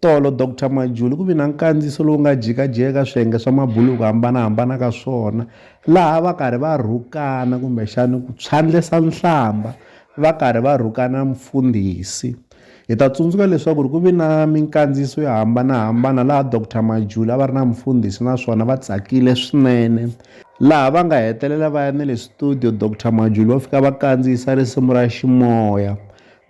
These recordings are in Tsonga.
Tolo, Doctor Majuli ku vi na nkandziyiso lowu nga jikajeka swiyenge swa mabulu hi ku hambana-hambana ka swona, laha a va karhi va rhukana kumbexani ku phyandlesa nhlambha va karhi va rhukana mfundhisi. Hi ta tsundzuka leswaku ri ku vi na minkandziyiso yo hambana-hambana laha Doctor Majuli a va ri na mfundhisi naswona va tsakile swinene, laha va nga hetelela va ya ni le studio Doctor Majuli va fika va kandziyisa risimu ra Ximoya.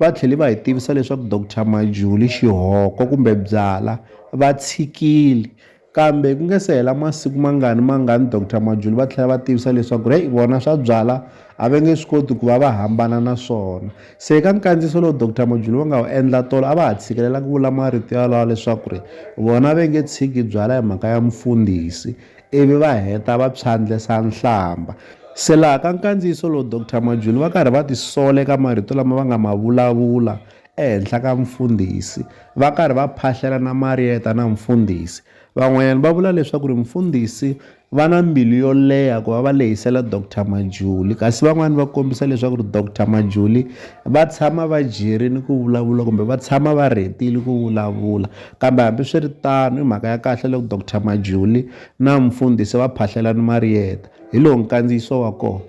Va tlhele va hi tivisa leswaku Doctor Majuli xihoko kumbe byala va tshikile. Kambe ku nge se hela masiku mangani mangani Doctor Majuli va tlhela va tivisa leswaku heyi vona swa byala a va nge swi koti ku va va hambana na swona. Se eka nkandziyiso lowu Doctor Majuli va nga wu endla tolo a va ha tshikelela ku vula marito yalawo leswaku vona va nge tshiki byala hi mhaka ya mufundhisi. ivi va heta va pshandlesa nhlamba. Se laha ka nkandziyiso lowu Doctor Majuli va karhi va tisola eka marito lama va nga ma vulavula ehenhla ka Mfundhisi, va karhi va phahlela na Marieta na Mfundhisi. Van'wanyana va vula leswaku ri Mfundhisi va na mbilu yo leha ku va va lehisela Doctor Majuli, kasi van'wana va kombisa leswaku ri Doctor Majuli va tshama va jerile ku vulavula kumbe va tshama va rhetile ku vulavula. Kambe hambi swi ri tano, i mhaka ya kahle loko Doctor Majuli na mufundhisi va phahlela ni Marieta. Hi lowu nkandziyiso wa kona.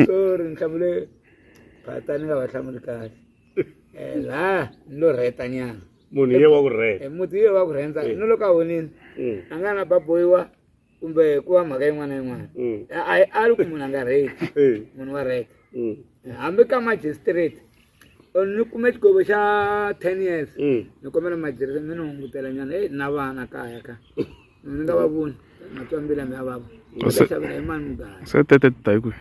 Sorry, nhlamulo phata ni nga va hlamuli kahle. Eh, la ni lo rheta nyana. Munhu ye wa ku rheta. Eh, muti ye wa ku rhenta. Mm. Ni loko a honini. Mm. A nga na baboyiwa kumbe ku va mhaka yin'wana na yin'wana. Mm. A a lu ku munhu a nga rheti. Eh. Munhu wa rheta. Mm. Eh, hambi ka magistrate ni kume xigovo xa ten years mm. ni kombela matirhelo mi ni hungutela nyana e na vana kaya ka ni nga va voni matswambila mi ya vava xavela hi mani mugaya se tete ti ta hi kwihi